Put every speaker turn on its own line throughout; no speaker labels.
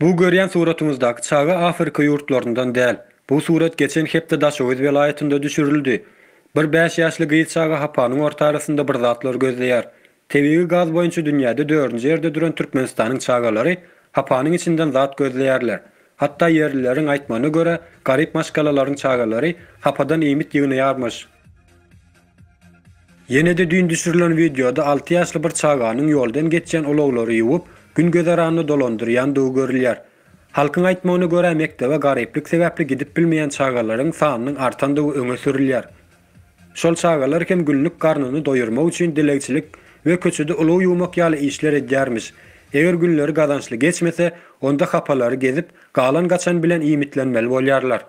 Bu görýän suratyňyzdaky çaga Afrika ýurtlaryndan däl. Bu surat geçen hepde Daşoguz welaýatynda düşürildi. Bir bäş ýaşly gyz çaga hapanyň orta arasynda bir zatlar gözleýär. Tebigy gaz boýunça dünýäde dördünji ýerde duran Türkmenistanyň çagalary hapanyň içinden zat gözleýärler. Hatda ýerlileriň aýtmagyna görä, garyp maşgalalaryň çagalary hapadan iýmit ýygnaýarmyş. Ýene-de düýn düşürilen wideoda alty ýaşly bir çaganyň ýoldan geçýän ulaglary ýuwup, gün-gözeranny dolandyrýandygy görülýär. Halkyň aýtmagyna görä, mekdebe garyplyk sebäpli gidip bilmeýän çagalaryň sanynyň artandygy öňe sürülýär. Şol çagalar hem günlük garnyny doýurmak üçin dilegçilik we köçede ulag ýuwmak ýaly işler edýärmiş. Eger günleri gazançly geçmese, onda hapalary gezip, galan-gaçan bilen iýmitlenmeli bolýarlar.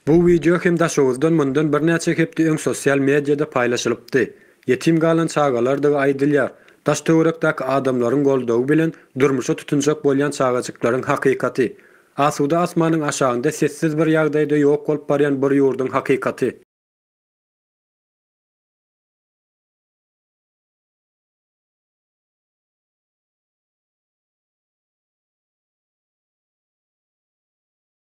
Bu wideo hem Daşoguzdan mundan birnäçe hepde öň sosial mediada paýlaşylypdy. Ýetim galan çagalardygy aýdylýar. Daş-töwerekdäki adamlaryň goldawy bilen durmuşa tutunjak bolýan çagajyklaryň hakykaty. Asuda asmanyň aşagynda sessiz bir ýagdaýda ýok bolup barýan bir ýurduň hakykaty.